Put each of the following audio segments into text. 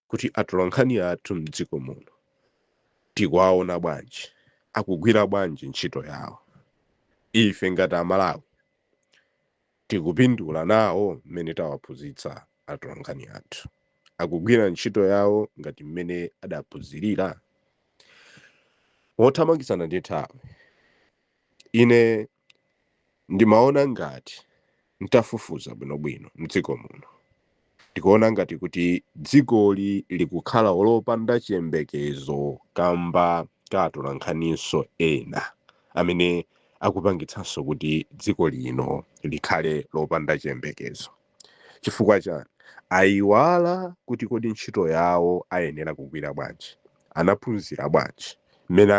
kuti atolankhani athu m'dziko muno tikuwaona bwanji, akugwira bwanji ntchito yawo, ife ngati Amalawi tikupindula nawo mmene tawaphunzitsa atolankhani athu, akugwira ntchito yawo ngati mmene adaphunzirira? Mothamangitsana ndi nthawi, ine Ndimaona ngati ntafufuza bwinobwino mdziko muno ndikuona ngati kuti dzikoli likukhala lopanda chiyembekezo kamba ka atolankhaninso ena amene akupangitsanso kuti dziko lino likhale lopanda chiyembekezo. Chifukwa chani? Ayiwala kuti kodi ntchito yawo ayenera kugwira bwanji, anaphunzira bwanji mmene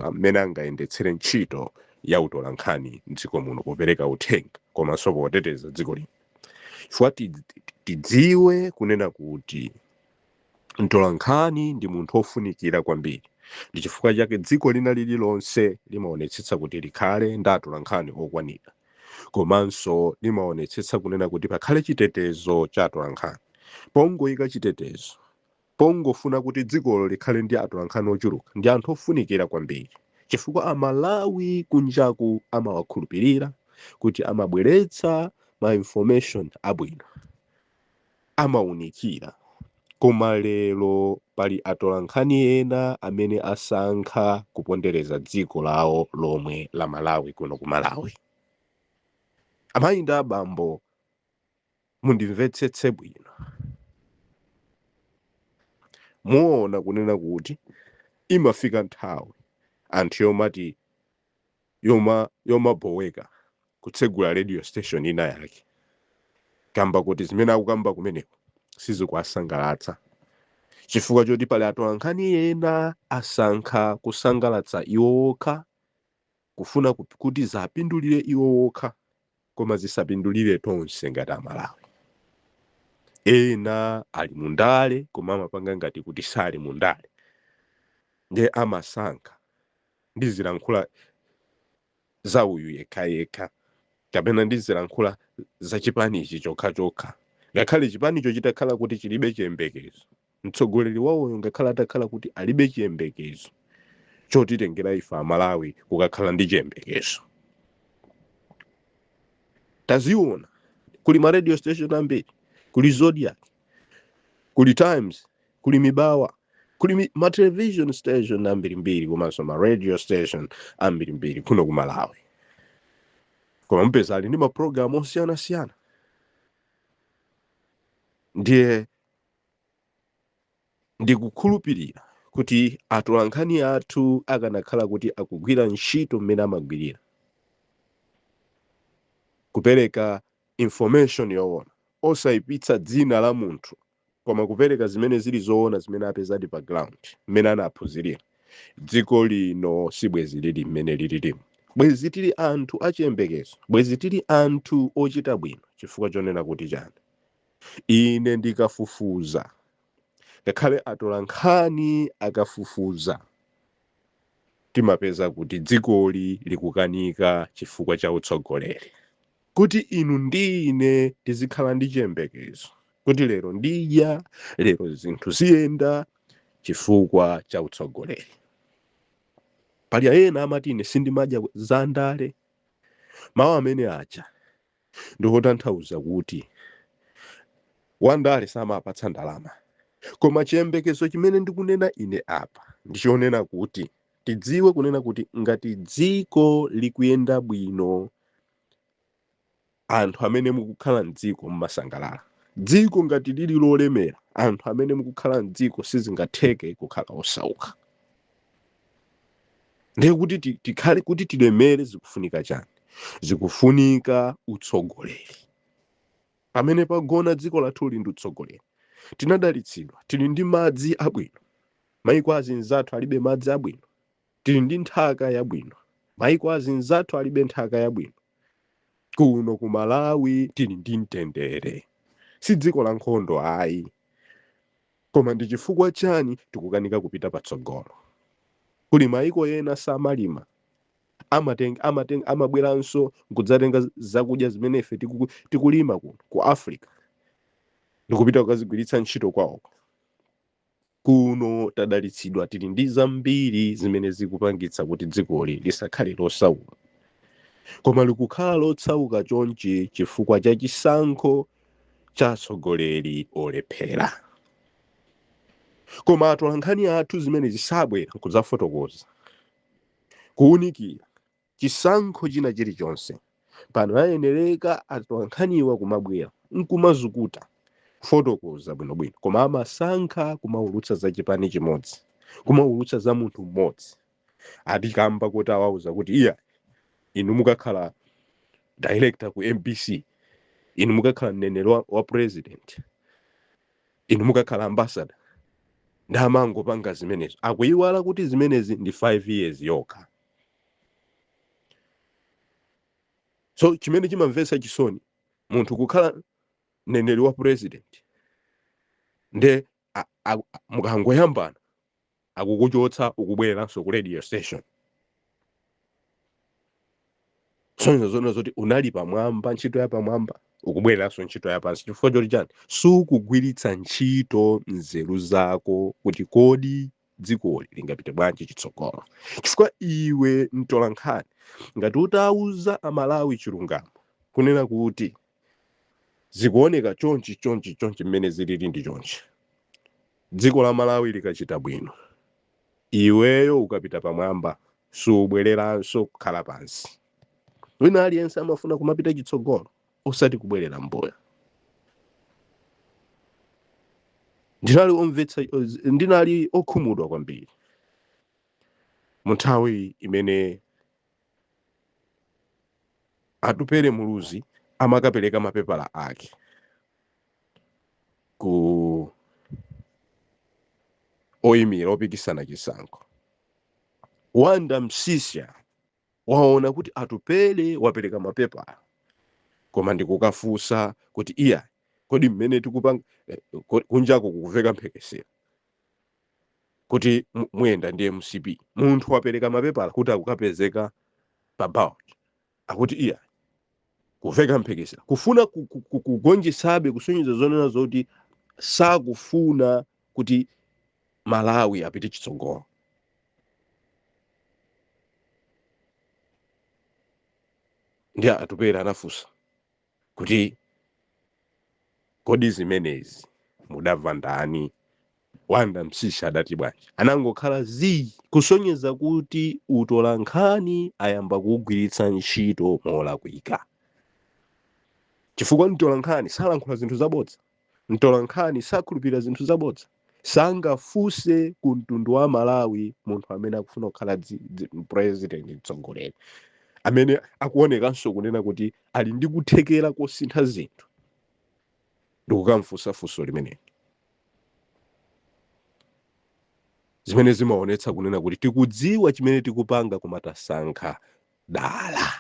a- mmene angayendetsere ntchito ya utolankhani m'dziko muno popereka uthenga komanso poteteza dziko lino. Chifukwa tidziwe kunena kuti Mtolankhani ndi munthu wofunikira kwambiri. Ndi chifukwa chake dziko lina lililonse limaonetsetsa kuti likhale ndi atolankhani okwanira. Komanso limaonetsetsa kunena kuti pakhale chitetezo cha atolankhani. Pongoika chitetezo, pongofuna kuti dzikolo likhale ndi atolankhani ochuluka, ndi anthu ofunikira kwambiri. Chifukwa Amalawi kunjaku amawakhulupirira kuti amabweretsa ma information abwino. amaunikira. Koma lero pali atolankhani ena amene asankha kupondereza dziko lawo lomwe la Malawi kuno ku Malawi. Amayi ndi abambo mundimvetsetse bwino. Muona kunena kuti imafika nthawi anthu yomati yoma yomaboweka kutsegula radio station ina yake kamba kuti zimene akukamba kumeneko sizikuwasangalatsa chifukwa choti pali atolankhani ena asankha kusangalatsa iwo okha kufuna kuti ziwapindulire iwo okha koma zisapindulire tonse ngati amalawi. ena ali mu ndale koma amapanga ngati kuti sali mu ndale nde amasankha ndizilankhula za uyu yekhayekha kapena ndizilankhula za chipani ichi chokhachokha ngakhale chipanicho chitakhala kuti chilibe chiyembekezo. Mtsogoleri wawoyo ngakhale atakhala kuti alibe chiyembekezo chotitengera ife Amalawi kukakhala ndi chiyembekezo. Tazionani, kuli ma radio station ambiri, kuli Zodiak, kuli Times, kuli Mibawa, kuli ma television station ambirimbiri komanso ma radio station ambirimbiri kuno ku Malawi. Koma mupeza ali ndi ma program osiyanasiyana. Ndiye Ndikukhulupirira kuti atolankhani athu akanakhala kuti akugwira ntchito mmene amagwirira, kupereka information yoona, osaipitsa dzina la munthu koma kupereka zimene zili zoona zimene apezadi pa ground, mmene anaphunzirira, dziko lino sibwenzi lili mmene lililimu. Bwenzi tili anthu achiyembekezo. Bwenzi tili anthu ochita bwino. Chifukwa chonena kuti chani? Ine ndikafufuza, ngakhale atolankhani akafufuza, timapeza kuti dzikoli likukanika chifukwa cha utsogoleri. Kuti inu ndi ine tizikhala ndi chiyembekezo kuti lero ndidya, lero zinthu ziyenda chifukwa cha utsogoleri. Pali ena amati ine sindimadya za ndale, mawu amene aja Ndi potanthauza kuti wandale samawapatsa ndalama. Koma chiyembekezo chimene ndikunena ine apa ndi chonena kuti tidziwe kunena kuti ngati dziko likuyenda bwino anthu amene mukukhala m'dziko mumasangalala. Dziko ngati lili lolemera anthu amene mukukhala m'dziko sizingatheke kukhala osauka. ndiye kuti ti- tikhale kuti tilemere zikufunika chani zikufunika utsogoleri pamene pagona dziko lathuli ndi utsogoleri tinadalitsidwa tili ndi madzi abwino maiko azinzathu alibe madzi abwino tili ndi nthaka yabwino maiko azinzathu alibe nthaka yabwino kuno ku malawi tili ndi mtendere si dziko la nkhondo ayi Koma ndi chifukwa chani tikukanika kupita patsogolo? Kuli maiko ena samalima, amateng, amateng, amabweranso nkudzatenga zakudya zimene ife tiku, tikulima kuno ku Africa ndikupita kukazigwiritsa ntchito kwaoko. Kuno tadalitsidwa tili ndi zambiri zimene zikupangitsa kuti dzikoli lisakhale losauka. Koma likukhala losauka chonchi chifukwa cha chisankho cha atsogoleri olephera koma atolankhani athu zimene zisabwera nkudzafotokoza kuwunikira chisankho china chilichonse pano ayenereka atolankhaniwa kumabwera nkumazukuta kufotokoza bwinobwino koma amasankha kumaulutsa za chipani chimodzi kumaulutsa za munthu mmodzi akuti kamba koti awauza kuti iya inu mukakhala director ku mbc inu mukakhala mneneri wa, wa president inu mukakhala ambassador nde amangopanga zimenezo akuyiwala kuti zimenezi ndi 5 years yokha so chimene chimamvetsa chisoni munthu kukhala mneneri wa president nde a- a- a- mukangoyambana akukuchotsa ukubwereranso ku radio station kusonyeza zoona zoti unali pamwamba ntchito ya pamwamba ukubwereranso ntchito ya pansi chifukwa choti chani sukugwiritsa ntchito nzeru zako kuti kodi dzikoli lingapite bwanji chitsogolo chifukwa iwe mtolankhani ngati utauza amalawi chilungamo kunena kuti zikuoneka chonchi chonchi chonchi mmene zilili ndi chonchi dziko la malawi likachita bwino iweyo ukapita pamwamba siubwereranso kukhala pansi wina aliyense amafuna kumapita chitsogolo osati kubwerera mbuyo ndinali omvetsa ndinali okhumudwa kwambiri mu nthawi imene Atupele Muluzi amakapereka mapepala ake ku oyimira opikisana chisankho. Wanda Msiska waona kuti Atupele wapereka mapepala koma ndikukafunsa kuti iya kodi mmene tikupanga eh, kunjako kukumveka mphekesera kuti muyenda ndi mcp munthu wapereka mapepala kuti akapezeka pa ballot akuti iyayi kumveka mphekesera kufuna ku- ku- ku- kugonjetsabe kusonyeza zonena zoti sakufuna kuti malawi apite chitsogolo ndiye atupele anafunsa kuti, Kodi zimenezi mudamva kwa ndani? Wanda Msiska adati bwanji? Anangokhala zii, kusonyeza kuti utolankhani ayamba kuugwiritsa ntchito molakwika. Chifukwa mtolankhani salankhula zinthu zabodza. Mtolankhani sakhulupirira zinthu zabodza. Sangafunse ku mtundu wa Malawi munthu amene akufuna kukhala dzi- dzi- president mtsogoleri amene akuonekanso kunena kuti ali ndi kuthekera kosintha zinthu ndikukamfunsa funso limeneli zimene zimaonetsa kunena kuti tikudziwa chimene tikupanga koma tasankha dala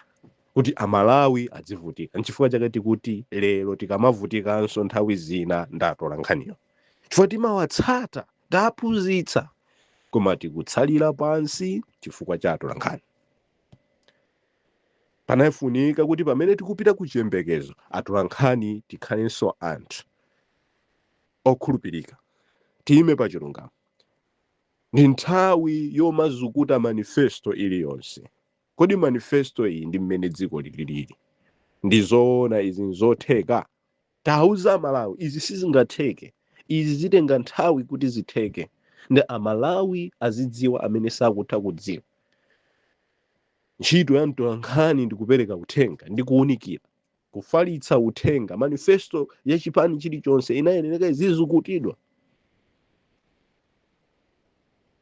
kuti amalawi adzivutika nchifukwa chake tikuti lero tikamavutikanso nthawi zina ndi atolankhaniwo chifukwa timawatsata taphunzitsa koma tikutsalira pansi chifukwa cha atolankhani pamafunika kuti pamene tikupita ku chiyembekezo atolankhani tikhalenso anthu okhulupirika tiyime pa chilungamo ndi nthawi yomazukuta manifesto iliyonse kodi manifesto iyi ndi mmene dziko lililili ndi zoona izi nzotheka tiwauza amalawi izi sizingatheke izi zitenga nthawi kuti zitheke ndi amalawi azidziwa amene sakutha kudziwa ntchito ya mtolankhani ndi kupereka uthenga ndi kuwunikira kufalitsa uthenga manifesto ya chipani chilichonse imayenereka izizukutidwa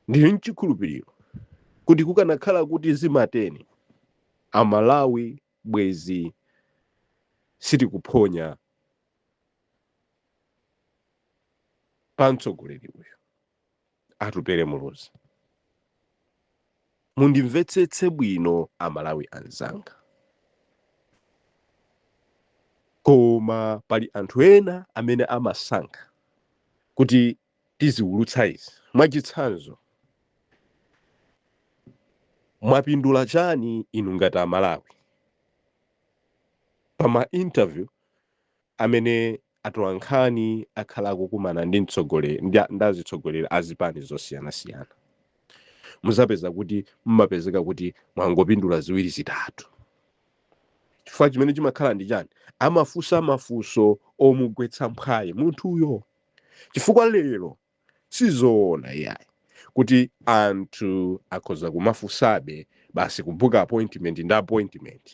ndili mchikhulupiriro kuti kukanakhala kuti zimatere amalawi bwezi sitikuphonya pa mtsogoleri iyayi Atupele Muluzi. Mundimvetsetse bwino Amalawi anzanga. Koma pali anthu ena amene amasankha kuti tiziwulutsa izi. Mwachitsanzo, mwapindula chani inu ngati Amalawi pa ma interview amene atolankhani akhala akukumana ndi mtsogoleri ndi, ndi azitsogoleri a zipani zosiyanasiyana muzapeza kuti mmapezeka kuti mwangopindula ziwiri zitatu chifukwa chimene chimakhala ndi chani amafunsa mafunso omugwetsa mphwayi munthuyo chifukwa lero Sizoona iyayi kuti anthu akhoza kumafunsabe basi kubooka appointment ndi appointment.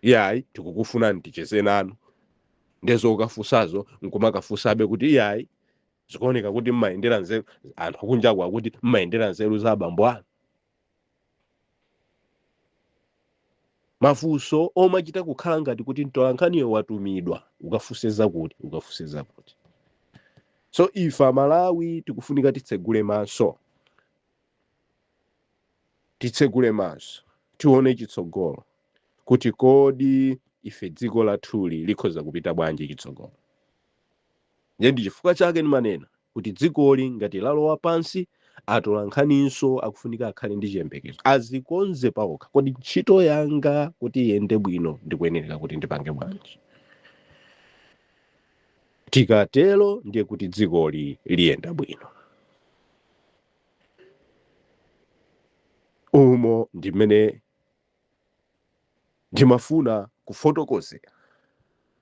Iyayi tikukufunani ticheze nanu. Ndiye zokafunsazo nkumakafunsabe kuti iyayi zikuoneka kuti mmayendera nzeru anthu kunjaku akuti mmayendera nzeru za abambo anu. mafunso omachita kukhala ngati kuti mtolankhaniyo watumidwa ukafunse zakuti ukafunse zakuti so ife amalawi tikufunika titsegule maso titsegule maso tione chitsogolo kuti kodi ife dziko lathuli likhoza kupita bwanji chitsogolo Ndiye ndi chifukwa chake ndimanena kuti dzikoli ngati lalowa pansi, atolankhaninso akufunika akhale ndi chiyembekezo, azikonze paokha. Kodi ntchito yanga kuti iyende bwino ndikuyenereka kuti ndipange bwanji? Tikatero ndiye kuti dzikoli liyenda bwino. Umo ndi mmene Ndimafuna kufotokozera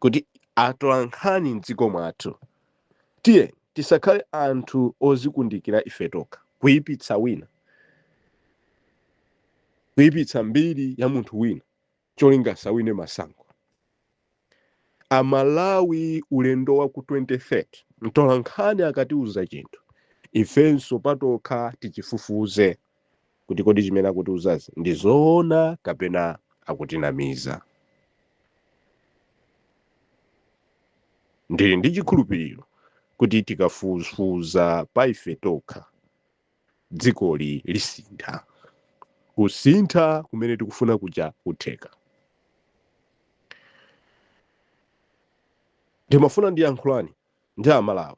kuti atolankhani m'dziko mwathu tiyeni tisakhale anthu ozikundikira ife tokha, kuipitsa wina, kuipitsa mbiri ya munthu wina cholinga asawine masankho. amalawi ulendo wa ku 2030 mtolankhani akatiuza chinthu ifenso patokha tichifufuze kuti kodi zimene akutiuzazi ndi zoona kapena akutinamiza ndili ndi chikhulupiriro kuti tikafufuza pa ife tokha dzikoli lisintha. Kusintha kumene tikufuna kuja kutheka. Ndimafuna ndiyankhulane ndi Amalawi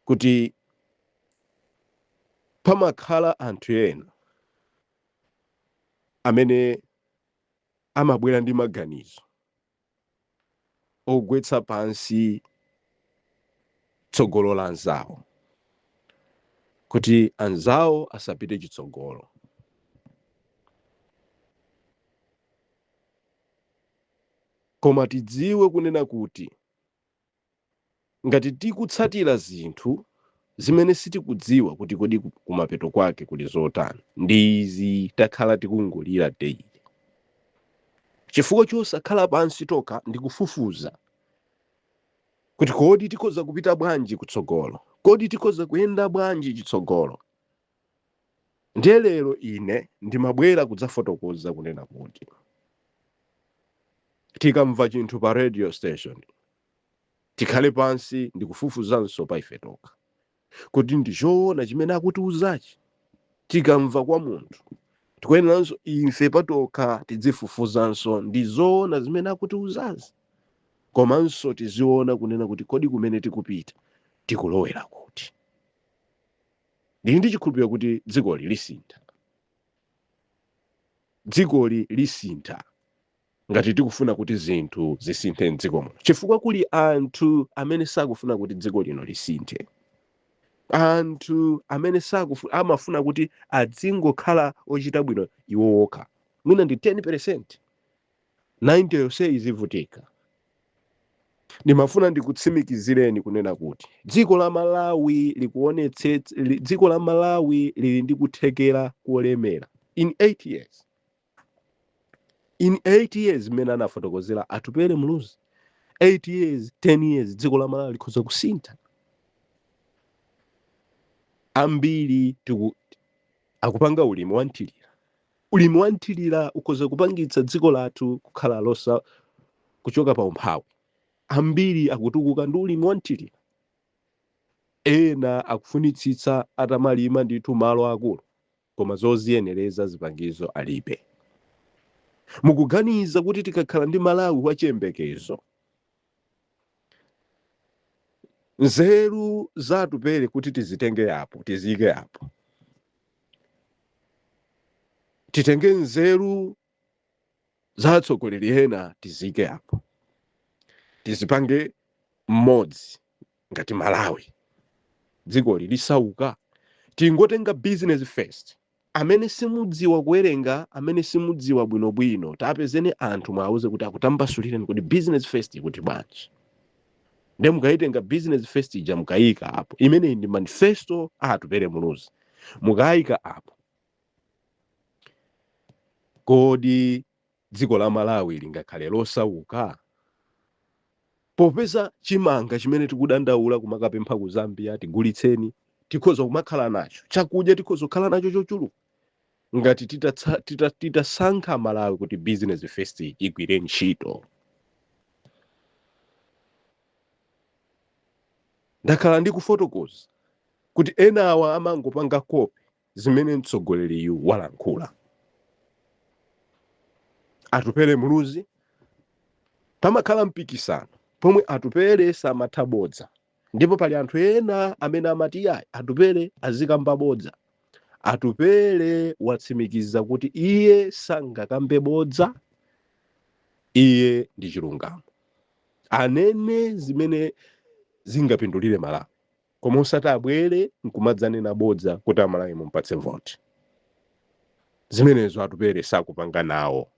kuti pamakhala anthu ena amene amabwera ndi maganizo ogwetsa pansi tsogolo la anzawo kuti anzawo asapite chitsogolo koma tidziwe kunena kuti Ngati tikutsatira zinthu zimene sitikudziwa kuti kodi kumapeto kwake kuli zotani, ndi izi takhala tikungolira daily chifukwa chosakhala pansi tokha ndi kufufuza kuti kodi tikhoza kupita bwanji kutsogolo, kodi tikhoza kuyenda bwanji chitsogolo. Ndiye lero ine ndimabwera kudzafotokoza kunena kuti tikamva chinthu pa radio station tikhale pansi ndikufufuzanso pa ife tokha kuti ndi choona chimene akutiuzachi tikamva kwa munthu tikuyeneranso ife patokha tidzifufuzanso ndi zoona zimene akutiuzazi komanso tiziona kunena kuti kodi kumene tikupita tikulowera kuti Ndili ndi chikhulupiriro kuti dzikoli lisintha. Dzikoli lisintha ngati tikufuna kuti zinthu zisinthe m'dziko muno, chifukwa kuli anthu amene sakufuna kuti dziko lino lisinthe. Anthu amene amafuna kuti adzingokhala ochita bwino iwo okha, mwina ndi 10 peresenti. 90 yonse izivutika. Ndimafuna ndikutsimikizireni kunena kuti dziko la Malawi likuonets, dziko la Malawi lili ndi kuthekera kolemera in 8 years in 8 years mmene anafotokozera Atupele Muluzi 8 years 10 years dziko la Malawi likhoza kusintha ambiri ti akupanga ulimi wamthirira Ulimi wa mthilira ukhoza kupangitsa dziko lathu kukhala lotha kuchoka pa umphawi. Ambiri akutukuka ndi ulimi wa mthilira. Ena akufunitsitsa atamalima ndithu malo akulu koma zoziyenereza zipangizo alibe. Mukuganiza kuti tikakhala ndi Malawi wa chiyembekezo? nzeru za atupele kuti tizitenge apo tiziyike apo titenge nzeru za atsogoleri ena tiziyike apo tizipange pamodzi ngati malawi dzikoli lisauka tingotenga business first amene simudziwa kuwerenga amene simudziwa bwinobwino tapezeni anthu mwauze kuti akutambasulireni kodi business first ikuti bwanji nde mukayitenga business first ija mukayika apo imeneyi ndi manifesto a atupere muluzi mukayika apo kodi Dziko la Malawi lingakhale losauka? Popeza chimanga chimene tikudandaula kumakapempha ku Zambia, tigulitseni, tikhoza kumakhala nacho. Chakudya tikhoza kukhala nacho chochuluka ngati titatsa, tita, titasankha Malawi kuti business first igwire ntchito. Ndakhala ndikufotokoza kuti enawa amangopanga copy zimene mtsogoleriyu walankhula. Atupele Muluzi, Pamakhala mpikisano pomwe Atupele samatha bodza ndipo pali anthu ena amene amati iyayi Atupele azikamba bodza. Atupele watsimikiza kuti iye sangakambe bodza, iye ndi chilungamo. Anene zimene zingapindulire Malawi. koma osati abwere nkumadzanena bodza kuti amalawi mumpatse voti zimenezo atupere sakupanga nawo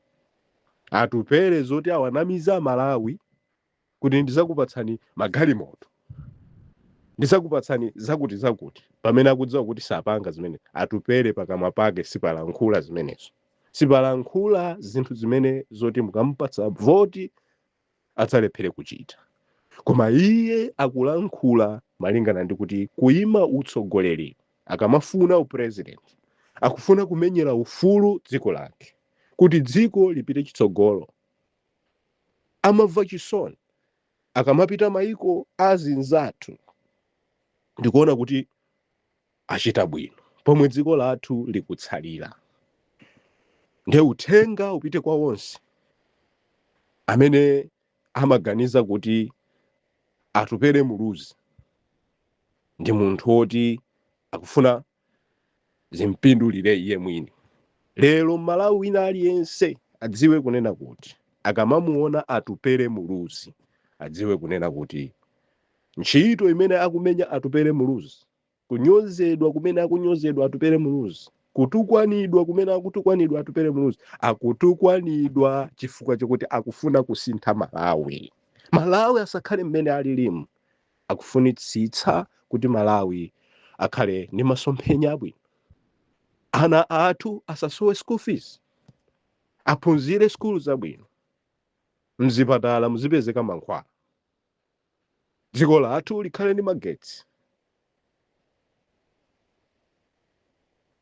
atupere zoti awanamize amalawi kuti ndizakupatsani magalimoto ndizakupatsani zakuti zakuti pamene akudziwa kuti sapanga zimenezo atupere pakamwa pake sipalankhula zimenezo sipalankhula zinthu zimene zoti mukamupatsa voti adzalephere kuchita. Koma iye akulankhula malingana ndi kuti kuima utsogoleri akamafuna upresident akufuna kumenyera ufulu dziko lake kuti dzikoli lipite chitsogolo. Amamva chisoni akamapita maiko azinzathu ndikuona kuti achita bwino pomwe dziko lathu likutsalira nde uthenga upite kwa onse amene amaganiza kuti atupele muluzi ndi munthu woti akufuna zimpindulire iye mwini lero mmalawi wina aliyense adziwe kunena kuti akamamuona atupele muluzi adziwe kunena kuti ntchito imene akumenya atupele muluzi kunyozedwa kumene akunyozedwa atupele muluzi kutukwanidwa kumene akutukwanidwa atupele muluzi akutukwanidwa chifukwa chokuti akufuna kusintha malawi malawi asakhale mmene alilimu akufunitsitsa kuti malawi akhale ndi masomphenya abwino ana athu asasowe school fees aphunzire skulu zabwino mzipatala muzipezeka mankhwala dziko lathu likhale ndi magetsi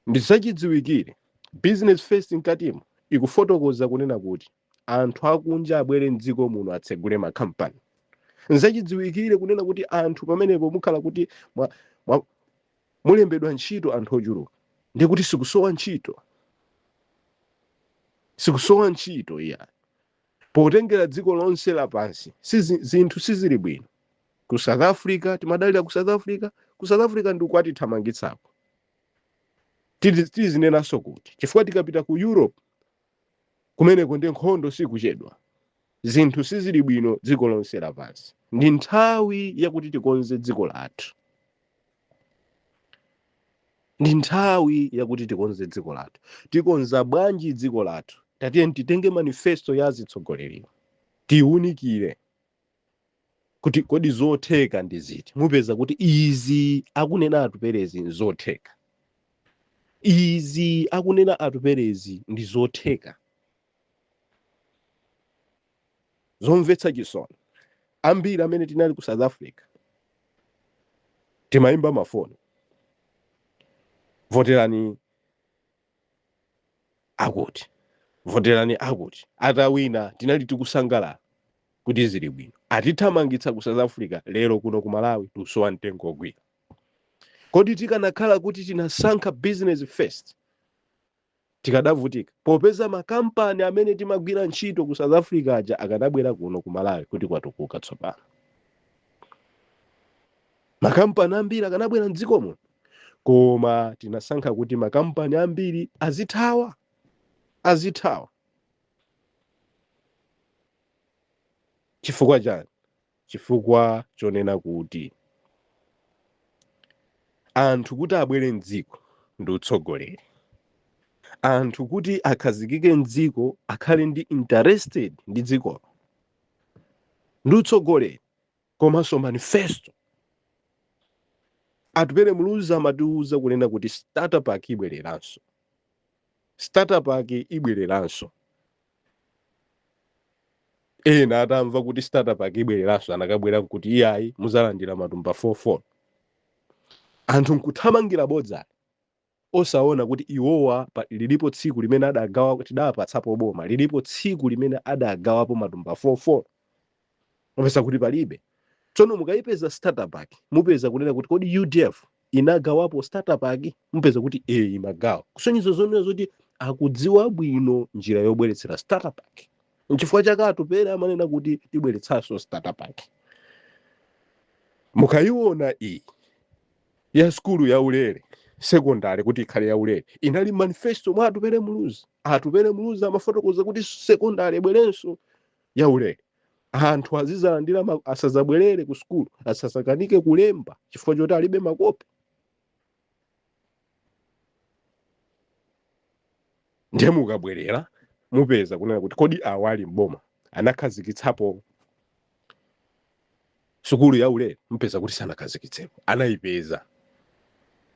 ndi zachidziwikire business first mkatimo ikufotokoza kunena kuti anthu akunja abwere mdziko muno atsegule makampani nzachidziwikire kunena kuti anthu pamenepo mukhala kuti mwa, mwa, mulembedwa ntchito anthu ochuluka ndi kuti sikusowa ntchito sikusowa ntchito iyayi potengera dziko lonse lapansi sizi, zinthu sizili bwino ku south africa timadalira ku south africa ku south africa ndi ukwatithamangitsako Tizi- tizinenanso kuti chifukwa tikapita ku europe kumeneko ndi nkhondo sikuchedwa zinthu sizili bwino dziko lonse lapansi ndi nthawi yakuti tikonze dziko lathu ndi nthawi yakuti tikonze dziko lathu tikonza bwanji dziko lathu tatiyeni titenge manifesto ya azitsogoleriwa tiwunikire kuti kodi zotheka ndi ziti mupeza kuti izi akunena atupelezi nzotheka izi akunena atupelezi ndi zotheka zomvetsa chisoni ambiri amene tinali ku south africa timayimba mafoni voterani akuti voterani akuti atawina tinali tikusangalala kuti zili bwino atithamangitsa ku south africa lero kuno ku malawi tusowa mtengo ogwira kodi tikanakhala kuti tinasankha business first tikadavutika popeza makampani amene timagwira ntchito ku south africa aja akadabwera kuno ku malawi kuti kwatukuka tsopano makampani ambiri akanabwera mdziko muno koma tinasankha kuti makampani ambiri azithawa azithawa chifukwa chani Chifukwa chonena kuti anthu kuti abwere m'dziko ndi utsogoleri, anthu kuti akhazikike m'dziko akhale ndi interested ndi dzikolo ndi utsogoleri komanso manifesto. Atupele Muluzi amatiuza kunena kuti starter pack ibwereranso, starter pack ibwereranso. ena atamva kuti starter pack ibwereranso anakabwera kuti iyayi muzalandira matumba 44 anthu nkuthamangira bodza osaona kuti iwowa pa- lilipo tsiku limene adagawa tidapatsapo boma lilipo tsiku limene adagawapo matumba 44 mupeza kuti palibe tsono mukayipeza starter pack mupeza kunena kuti kodi udf inagawapo starter pack mupeza kuti e imagawa kusonyeza zonena zoti akudziwa bwino njira yobweretsera starter pack nchifukwa chake atupere amanena kuti tibweretsanso starter pack mukayiona iyi ya skulu ya ulere sekondari kuti ikhale ya ulere inali manifesto mwa atupere muluzi atupere muluzi amafotokoza kuti sekondari ibwerenso ya ulere anthu azizalandira ma- asazabwerere ku sukulu asazakanike kulemba chifukwa choti alibe makope ndiye mukabwerera mupeza kunena kuti kodi awa ali mboma anakhazikitsapo sukulu ya ulere mupeza kuti sanakhazikitsepo anayipeza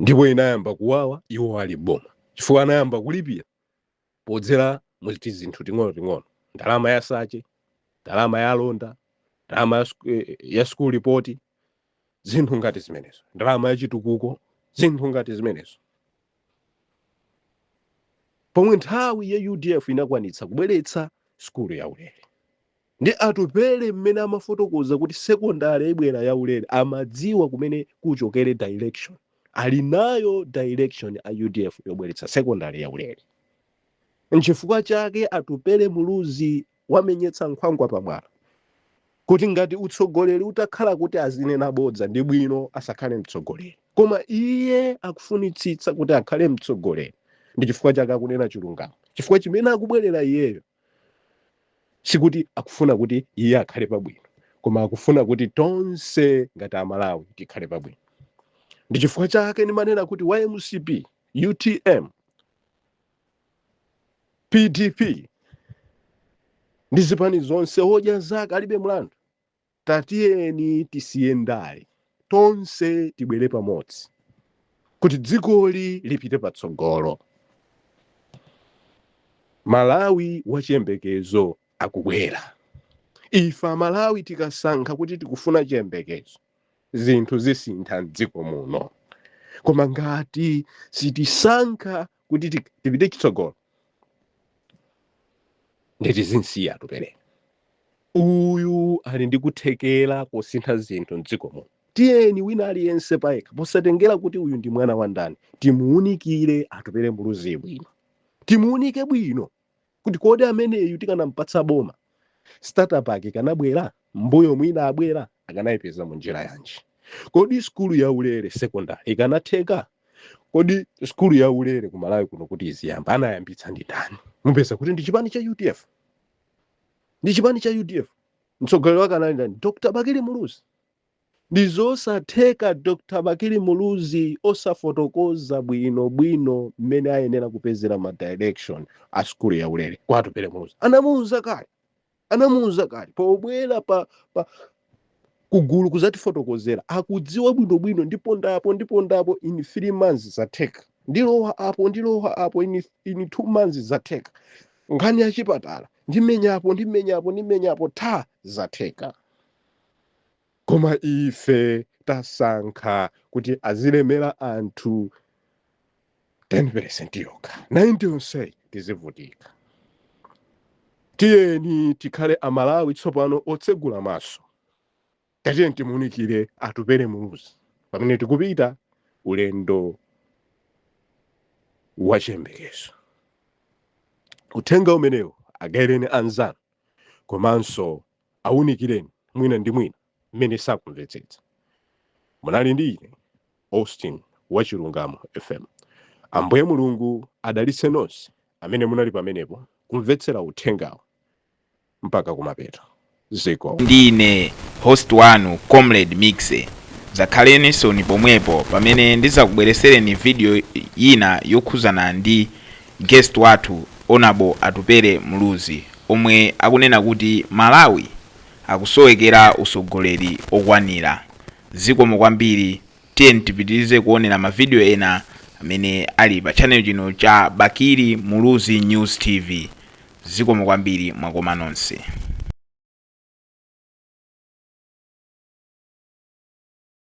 ndipo inayamba kuwawa iwo ali mboma chifukwa anayamba kulipira podzera mu tizinthu ting'onoting'ono, ndalama ya sache, ndalama ya alonda, ndalama ya sku- eh, ya school report, zinthu ngati zimenezo, ndalama ya chitukuko, zinthu ngati zimenezo. Pomwe nthawi ya UDF inakwanitsa kubweretsa sukulu ya ulere, Ndi Atupele mmene amafotokoza kuti secondary ibwera yaulere amadziwa komwe kuchokere direction. Ali nayo direction a udf yobweretsa secondary yaulere. Nchifukwa chake Atupele Muluzi wamenyetsa nkhwangwa pamwala kuti ngati utsogoleri utakhala kuti azinena bodza ndi bwino asakhale mtsogoleri. Koma iye akufunitsitsa kuti akhale mtsogoleri ndi chifukwa chake akunena chilungamo. Chifukwa chimene akubwerera iyeyo sikuti akufuna kuti iye akhale pabwino koma akufuna kuti tonse ngati amalawi tikhale pabwino ndi chifukwa chake ndimanena kuti wa mcp utm pdp ndi zipani zonse odya zake alibe mlandu Tatiyeni tisiye ndale, tonse tibwere pamodzi kuti dzikoli lipite patsogolo. Malawi wa chiyembekezo akubwera. Ife Amalawi tikasankha kuti tikufuna chiyembekezo, zinthu zisintha m'dziko muno. Koma ngati sitisankha kuti ti- tipite chitsogolo nde tizimusiya Atupere uyu ali ndi kuthekera kosintha zinthu mdziko muno tiyeni wina aliyense payekha posatengera kuti uyu ndi mwana wa ndani timuunikire Atupere muluzi bwino timuunike bwino kuti kodi ameneyu tikanampatsa boma startup akanabwera mbuyo mmene inabwera akanayipeza mu njira yanji kodi skulu ya ulere secondary ikanatheka kodi skulu ya ulere ku malawi kuno kuti iziyamba anayambitsa ndi ndani mupeza kuti ndi chipani cha udf ndi chipani cha udf mtsogoleri wake anali ndani dr bakili muluzi Ndizosatheka Dr Bakili Muluzi osafotokoza bwino bwino mmene ayenera kupezera ma direction a sukulu ya ulere kwa Atupele Muluzi. Anamuuza kale, anamuuza kale pobwera pa, pa kugulu kuzatifotokozera akudziwa bwino bwino ndipo ndapo ndipo ndapo in 3 months zatheka ndilowa apo ndilowa apo in, in 2 months zatheka nkhani ya chipatala ndimenyapo ndimenyapo ndimenyapo tha zatheka Koma ife tasankha kuti azilemera anthu 10 peresenti yokha, 90 yonseyi tizivutika. Tiyeni tikhale Amalawi tsopano otsegula maso. Tatiyeni timuunikire Atupele Muluzi pamene tikupita ulendo wa chiyembekezo. Uthenga umenewu agaireni anzanu komanso Awunikireni mwina ndi mwina mmene sakumvetsetsa. Munali ndi ine Austin wa Chilungamo FM. Ambuye Mulungu adalitse nonse amene munali pamenepo kumvetsera uthengawu mpaka kumapeto. Zikomo. Ndi ine host wanu Comrade Mixxer. Zakhaleninsoni pomwepo pamene ndizakubweresereni video yina yokhuzana ndi Guest wathu Honourable Atupele Muluzi omwe akunena kuti Malawi akusowekera usogoleri wokwanira. Zikomo kwambiri tiyeni tipitilize kuonera ma video ena amene ali pa channel chino cha Bakili Muluzi News TV. Zikomo kwambiri mwakoma nonse.